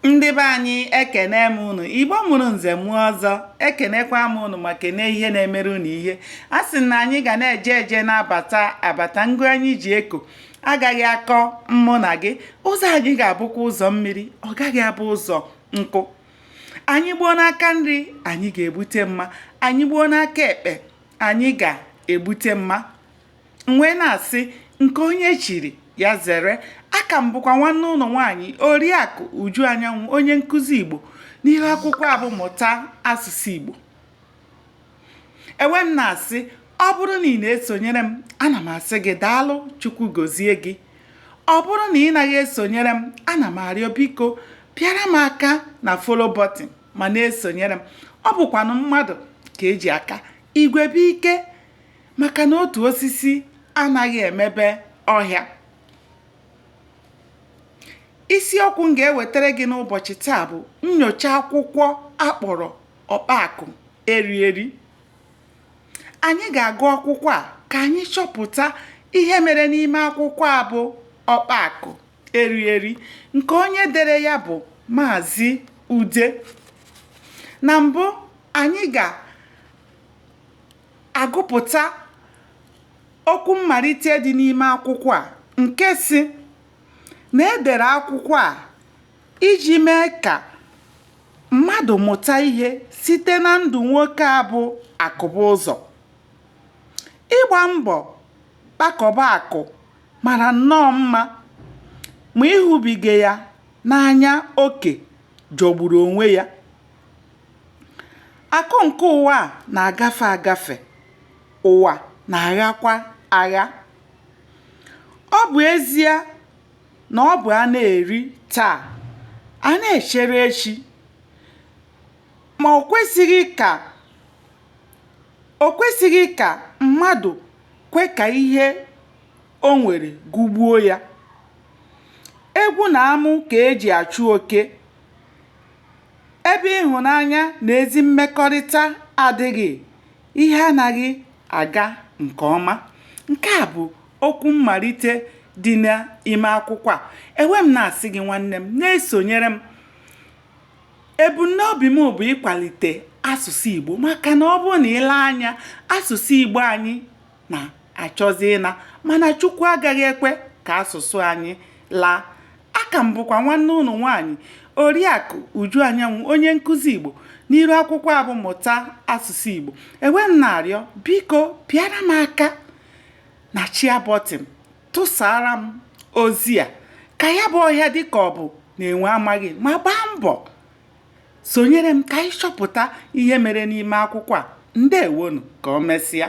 ndị be anyị ekene m ụnụ igbo mụrụ nze mụọ ọzọ ekenekwa m ụnụ ma kene ihe na-emere ụnụ ihe a sị na anyị ga na-eje eje na-abata abata ngụ anyị ji eko agaghị akọ mụ na gị ụzọ anyị ga-abụkwa ụzọ mmiri ọ gaghị abụ ụzọ nkụ anyị gbuo n'aka nri anyị ga-egbute mma anyị gbuo n'aka ekpe anyị ga-egbute mma M wee na-asị, nke onye chiri, ya zere. Aka m bụkwa nwanne ụnụ nwaanyị Oriakụ Uju Anyanwụ, onye nkụzi Igbo n'ihu akwụkwọ a bụ Mụta Asụsụ Igbo. Ewe m na-asị, ọ bụrụ na ị na-esonyere m, ana m asị gị daalụ, Chukwu gozie gị. Ọ bụrụ na ị naghị esonyere m, ana m arịọ biko pịara m aka na follow button ma na-esonyere m. Ọ bụkwanụ mmadụ ka e ji aka. Igwe bụ ike. maka na otu osisi anaghị emebe ọhịa isiokwu m ga-ewetara gị n'ụbọchị taa bụ nnyocha akwụkwọ a kpọrọ ọkpa akụ eri eri anyị ga-agụ akwụkwọ a ka anyị chọpụta ihe mere n'ime akwụkwọ a bụ ọkpa akụ eri eri nke onye dere ya bụ maazị ude na mbụ anyị ga agụpụta okwu mmalite dị n'ime akwụkwọ a nke sị na e dere akwụkwọ a iji mee ka mmadụ mụta ihe site na ndụ nwoke a bụ Akụbụzọ. Ịgba mbọ kpakọba akụ mara nnọọ mma ma ịhụbiga ya n'anya oke jọgburu onwe ya. Akụ nke ụwa a na-agafe agafe, ụwa na-aghakwa agha. Ọ bụ ezie na ọ bụ a na-eri taa, a na-echere echi, ma o kwesịghị ka mmadụ kwe ka ihe o nwere gụgbuo ya. Egwu na amụ ka e ji achụ oke. Ebe ịhụnanya na ezi mmekọrịta adịghị, ihe anaghị aga nke ọma. Nke a bụ okwu mmalite dị n'ime akwụkwọ a. Ewe m na-asị gị nwanne m, na-esonyere m. Ebumnobi m bụ ịkwalite asụsụ Igbo maka na ọ bụrụ na i lee anya, asụsụ Igbo anyị na-achọzi ịna mana Chukwu agaghị ekwe ka asụsụ anyị laa. Aka m bụkwa nwanne unu nwaanyị Oriakụ Uju Anyanwụ onye nkụzi Igbo n'iru akwụkwọ a bụ Mụta Asụsụ Igbo. E wee m na-arịọ biko pịara m aka na share button tụsara m ozi a ka ya bụ ọhịa dịka ọ bụ na enwe amaghị ma gbaa mbọ sonyere m ka anyị chọpụta ihe mere n'ime akwụkwọ a. Ndewonụ, ka o mesịa.